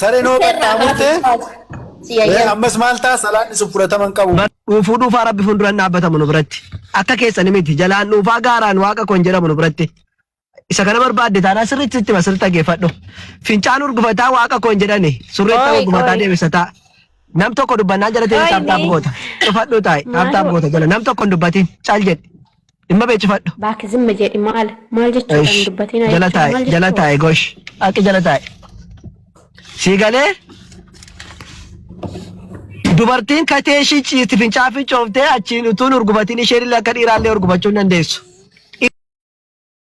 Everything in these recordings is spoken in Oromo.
Sareen hoo Dhufee irraa kaatu qaxxaamurtee taatu. Si ee, yayyaba. ammas maal ta'a salaanni sun fudhatama hin qabu. dhuufuu dhuufaa rabbi fuulduraan dhaabbatamu nu biratti akka keessan miti jalaan dhuufaa gaaraan waaqa koon jedhamu nu biratti isa kana barbaadde taanaa sirriitti sitti masirri dhaggeeffadhu fincaan urgufataa waaqa koon jedhani surree ta'uu Ooy, urgufataa ooy. deebisataa nam tokko dubbannaan jala ta'e Ooy, taaptaap mee. goota dhufadhu taa'e taaptaap goota jala nam tokko hin dubbatiin cal jedhe Dhimma beeksifadhu. Baak zimma jedhi maal maal jechuudha Ish, hin dubbatiin jala jechuudha taa'e maal jala jechuudha. taa'e gosh akka jala taa'e sii galee dubartiin katee ishii ciisti fincaa fincooftee achiin utuun urgubatiin isheen illee akka dhiiraallee urgubachuu hin dandeessu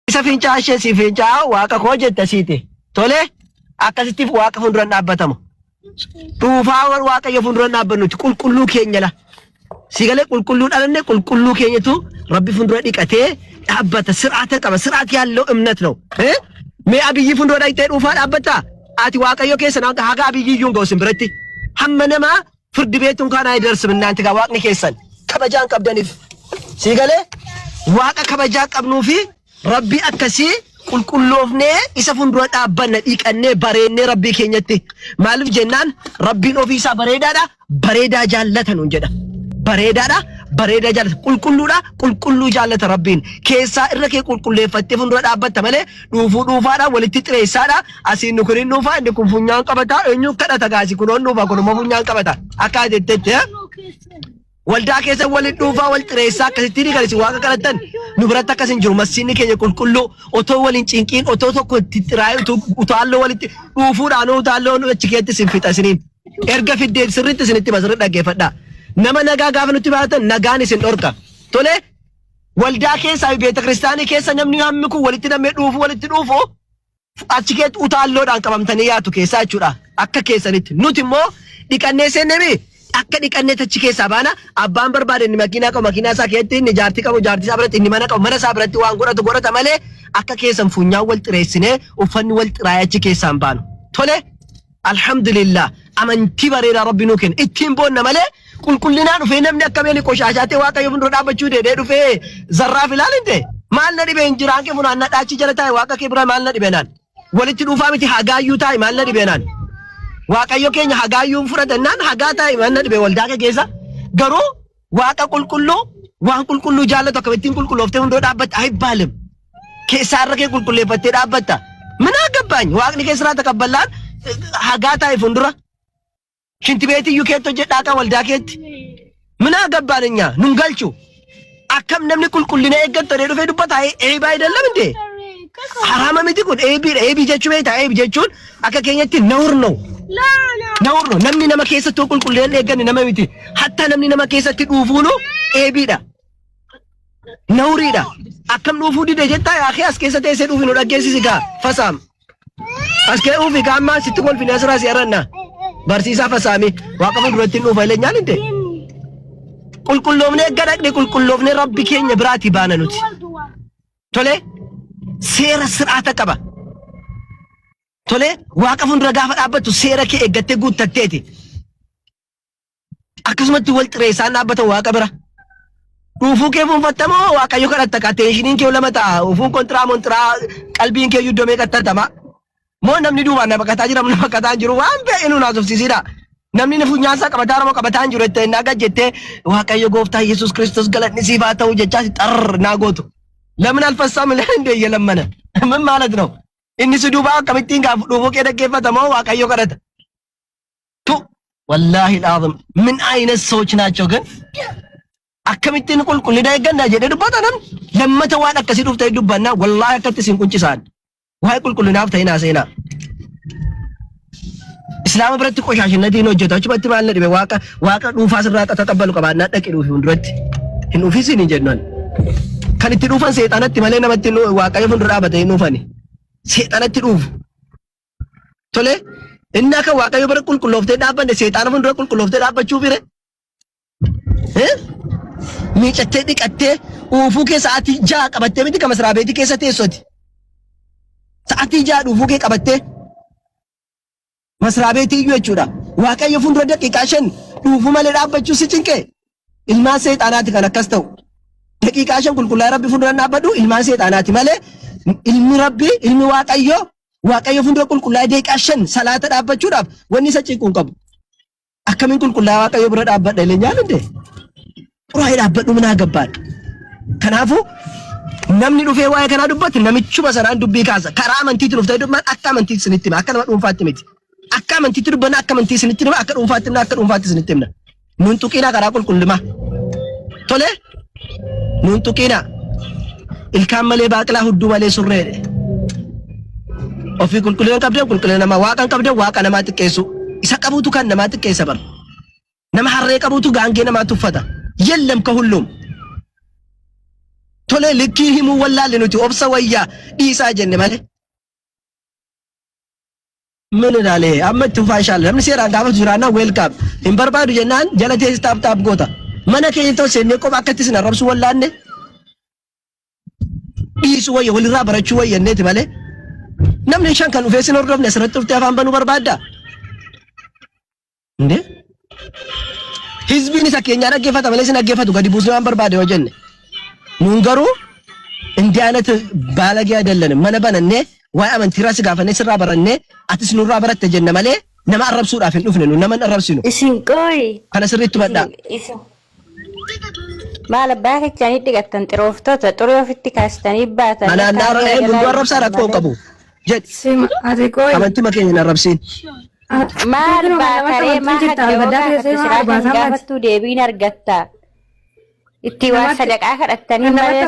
Isa fincaa ishee si fincaa waaqa koo jetta siite. Tole akkasittiif waaqa fuulduran dhaabbatama. Dhuufaa warra waaqayyo fuulduran dhaabbannuti qulqulluu keenya la. Si galee qulqulluu dhalanne qulqulluu keenyatu rabbi fuuldura dhiqatee dhaabbata sir'aata qaba sir'aati yaallo imnat ነው. Eh? Mee abiyyi fuuldura dhaqxee dhuufaa dhaabbatta? Ati waaqayyo keessa nama haga abiyyi iyyuu hin ga'u sin biratti. Hamma namaa Firdi beetun kaan ayidarsm innaanti gaa waaqni keessan kabajaan qabdanif sii galee waaqa kabajaa qabnuu fi rabbii akkasii qulqulloofnee isa fundura dhaabbanna dhiiqannee bareennee rabbii keenyatti maaliif jennaan rabbiin ofii isaa bareedaadha bareedaa jaallata nuun jedha bareedaadha bareedaa jaallata qulqulluudha qulqulluu jaallata rabbiin keessaa irra kee qulqulleeffattee fundura dhaabbatta malee dhuufuu dhuufaadha walitti xireessaadha asiin nu kiriin dhuufaa inni kun funyaan qabata eenyu kadhata gaasi kunoon dhuufaa kunuma funyaan qabata akka jettetti eh? waldaa keessa waliin dhuufaa wal xireessaa akkasitti ni galisi waaqa kadhattan nu biratti akkas hin jiru masiinni keenya qulqulluu otoo waliin cinqiin otoo tokko itti xiraa'ee utuu utaalloo walitti dhuufuudhaan utaalloo nu achi keessatti isin fixa isiniin erga fiddee sirriitti isinitti basirri dhaggeeffadha nama nagaa gaafa nutti baatan nagaan isin dhorka tolee Waldaa keessaa fi beetakiristaanii keessa namni hammi kun walitti namee dhuufuu walitti dhuufu achi keetti utaalloodhaan qabamtanii yaatu keessaa jechuudha akka keessanitti nuti immoo dhiqannee seenne mi akka dhiqannee tachi keessaa baana abbaan barbaade inni makiinaa qabu makiinaa isaa keessatti inni jaartii qabu jaartii isaa biratti inni mana qabu mana isaa biratti waan godhatu godhata malee akka keessan funyaan wal xireessinee uffanni wal xiraa'ee achi keessaan baanu tole Alhamdulillah amantii bareedaa rabbi nuu kenne ittiin boonna malee qulqullinaa dhufee namni akka beeni qoshaashaa ta'e waaqayyo fuuldura dhaabbachuu deedee dhufee zarraaf ilaal hin ta'e maal na dhibeen jiraan kee funaannaa dhaachii jala taa'e waaqa kee bira maal na dhibeenaan walitti dhuufaa miti hagaayyuu taa'e maal na dhibeenaan waaqayyo keenya hagaayyuu fudhatannaan hagaa taa'e maal na dhibee waldaa kee keessa garuu Waaqa qulqulluu waan qulqulluu jaallatu akkam ittiin qulqullooftee hundoo dhaabbatta ayibbaalem. Keessaa irra kee qulqulleeffattee dhaabbatta. Minaa gabbaany waaqni kee siraata kabballaan hagaa taa'e fuuldura. Shinti beetii iyyuu keetti hojjedhaa kan waldaa keetti. Minaa gabbaan hin nyaa nun galchu. Akkam namni qulqullina eeggattu jedhee dhufee dubbata eebaa hin dallamne. Haraama miti kun eebiidha eebii jechuu beektaa eebi jechuun Akka keenyatti nahur no. Nahur no. Namni nama keessatti yoo qulqullee hin eegganne nama miti. Hattaa namni nama keessatti dhuufuunu eebiidha. Nahuriidha. Akkam dhuufuu dide jettaa yaa kee as keessa teessee dhuufi nu dhaggeessisi gaa fasaam. As kee uufi gaa ammaa sitti kolfine asirraa si aranna. Barsiisaa fasaami waaqa fuulduratti hin dhuufa illee nyaan hinde. Qulqulloofnee gadhaqne qulqulloofnee rabbi keenya biraati baana nuti. Tolee seera sir'aata qaba. Tolee waaqa fuuldura gaafa dhaabbattu seera kee eeggattee guuttatteeti. Akkasumatti wal xireessaan dhaabbata waaqa bira. Dhuufuu kee fuunfattamoo waaqayyo kadhatta qateeshiniin kee lama ta'a. Ufuun kontiraa montiraa qalbiin kee iddoo meeqatti argama. Moo namni duubaan na baqataa jira na baqataa jiru waan ta'e nu naasofsiisidha. Namni na funyaan isaa qabataa nama qabataa hin jiru jettee na gad jettee Waaqayyo gooftaa Yesuus Kiristoos galanni siif haa ta'u jechaa si xarr naa gootu. Lamin alfassaa milaan hin deeyye lammana. Min maalat noo? Inni si duubaa akkamittiin gaafu dhuufuu kee dhaggeeffata moo Waaqayyo kadhata? Tu wallaahi laazim min ayina soochi naachoo gan akkamittiin qulqullina eegganna jedhee dubbata namni lammata waan akkasii dhufte dubbannaa wallaahi akkatti isin quncisaan. Waa'ee qulqullinaaf ta'in haasa'inaa. Islaama biratti qoshaashinnatii hin hojjetu. Achumatti maal na dhibe waaqa waaqa dhuunfaa sirraa akka taqabbalu qabaannaa dhaqi dhuufi fuulduratti. Hin dhufisin hin jennu ani. Kan itti dhuufan seexanatti malee namatti nu- waaqayyo fuuldura dhaabate hin dhuufani. Seexanatti dhuufu. Tole inni akka waaqayyo bira qulqullooftee dhaabbanne seexana fuuldura qulqullooftee dhaabbachuu fire Miicattee dhiqattee uufuu kee sa'aatii ja'a qabattee miti kan masraa beetii keessa teessoti. Sa'aatii ja'a uufuu kee qabattee masraa beetii iyyuu jechuudha. Waaqayyo fuuldura daqiiqaa shan dhuufuu malee dhaabbachuu si cinqee ilmaan seexaanaati kan akkas ta'u. Daqiiqaa shan qulqullaa'ee rabbi fuuldura dhaabbadhu ilmaan seexaanaati malee ilmi rabbi ilmi waaqayyo waaqayyo fuuldura qulqullaa'ee daqiiqaa shan salaata dhaabbachuudhaaf wanni isa cinquu hin qabu. Akkamiin qulqullaa waaqayyo bira dhaabbadha illee nyaanni dee. Xuraa'ee dhaabbadhu minaa gabbaadha. Kanaafuu namni dhufee waa'ee kanaa dubbatti namichuma sanaan dubbii kaasa. Karaa amantiitti dhuftee dubban akka amantiitti isinitti hima. Akka nama dhuunfaatti miti. Akka amantiitti dubbanna akka amantii isinitti hima. Akka dhuunfaatti himna akka dhuunfaatti isinitti himna. Nun tuqiinaa karaa qulqullumaa. Tolee. Nuun tuqiina. Ilkaan malee baaqilaa hudduu malee surree. Ofii qulqullina qabdee qulqullina namaa waaqan qabdee waaqa namaa xiqqeessu. Isa qabuutu kan namaa xiqqeessa bara. Nama harree qabuutu gaangee namaa tuffata. Yellam ka hulluum. Tolee likkii himuu wallaalle nuti obsa wayyaa dhiisaa jenne malee. Amin ilaale amma itti fufaa inshallah namni seeraan gaafatu jiraannaan welcome hin barbaadu jennaan jala teessi taap taap goota mana keenya ta'u seennee qofa akkatti isin arrabsu wallaanne dhiisu wayya walirraa barachuu wayya jenneeti malee namni shan kan dhufee sin hordofne asirratti dhuftee afaan banuu barbaadda Indee? Hizbiin isa keenyaa dhaggeeffata malee isin dhaggeeffatu gadi buusnee waan barbaade yoo jenne. Nuun garuu indii aanatti baalagee adallane mana banannee waa'ee amantiirraa si gaafannee sirraa barannee atis nurraa baratte jenna malee nama arrabsuudhaaf hin dhufne nu nama hin arrabsinu. Isin qooyi. Kana sirriitti hubadhaa. Isin isin Maal abbaa kechaan hidhigattan xirooftota xurii ofitti kaastanii baatan Anaan yakkaa naara seera eegu jalaa nu arrabsaan hiiktan rakkoo malee. qabu. Jedhi. Sima ati qoyi. Amantima kee hin arrabsiin. Maal baakaree maa hadda yoo gaafattu siraa kan gaafattuu deebiin argatta. Itti waa sadaqaa kadhattanii malee.